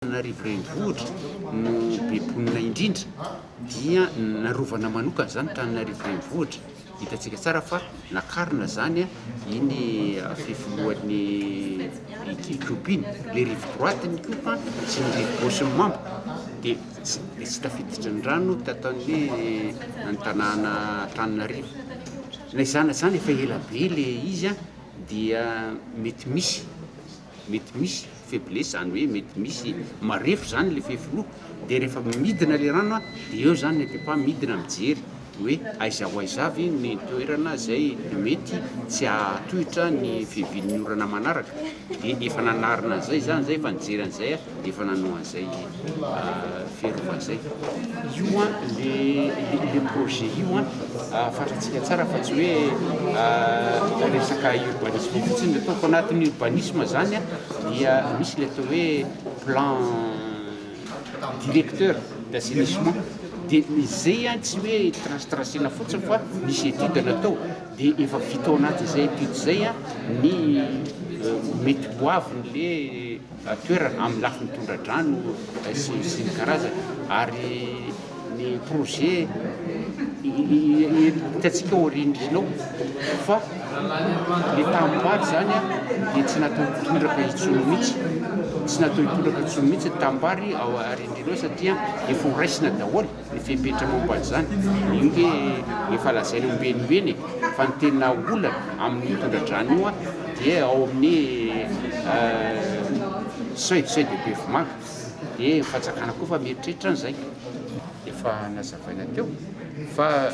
Antananarivo renivohitra no be mponina indrindra dia narovana manokana izany Antananarivo renivohitra, hitantsika tsara fa nakarina izany iny fifilohan'ny ICOP iny, ilay rive droite ny ICOP sy ny rive gauche ny membre dia tsy tafiditra ny rano tato amin'ny ny tanàna Antananarivo, na izany na izany efa ela be ilay izy dia mety misy Mety misy faiblesse zany hoe mety misy marefo zany le fefy roa de refa midina le rano a de eo zany le pepa midina mijery hoe aiza ho aiza avy ny toerana zay mety tsy hahatohitra ny fiavian'ny orana manaraka de efa nanarina an'zay za zay efa nijery an'zay a. dia efa nanao an'izay Ferova izay. Io an, le projet io an, fantatsika tsara fa tsy hoe resaka urbanisme fotsiny no ataoko. Anatin'ny urbanisme izany an, dia misy ilay atao hoe plan directeur d'assainissement. Dia izay an, tsy hoe trace-tracena fotsiny fa misy étude natao. Dia efa vita ao anatin'izay étude izay an, ny mety ho avin'ilay toerana amin'ny lafiny tondra-drano sy sy ny karazany ary ny projet hitantsika ao aorian'ny rihana ao fa ny tanimbary izany a dia tsy natao hitondraka intsony mihitsy tsy natao hitondraka intsony mihitsy ny tanimbary ao aorian'ny rihana ao satria efa ho raisina daholo Ny fepetra momba an'izany, io ve efa lazaina ombienimbeny e? Fa ny tena olana amin'io tondra-drano io dia ao amin'ny seuil, seuil de Bevomaha, dia ny fanjakana koa efa mieritreritra an'izay. Efa nazavaina teo fa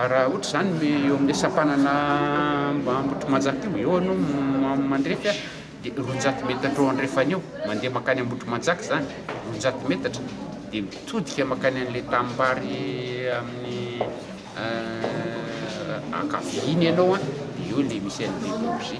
raha ohatra izany eo amin'ilay sampanana Ambohitrimanjaka io, eo aloha mandrefy a! Dia roanjato metatra eo andrefana eo, mandeha mankany Ambohitrimanjaka izany, roanjato metatra, dia mitodika mankany an'ilay tanimbary amin'ny ankaviany ianao an, dia eo ilay misy an'i Deborgie.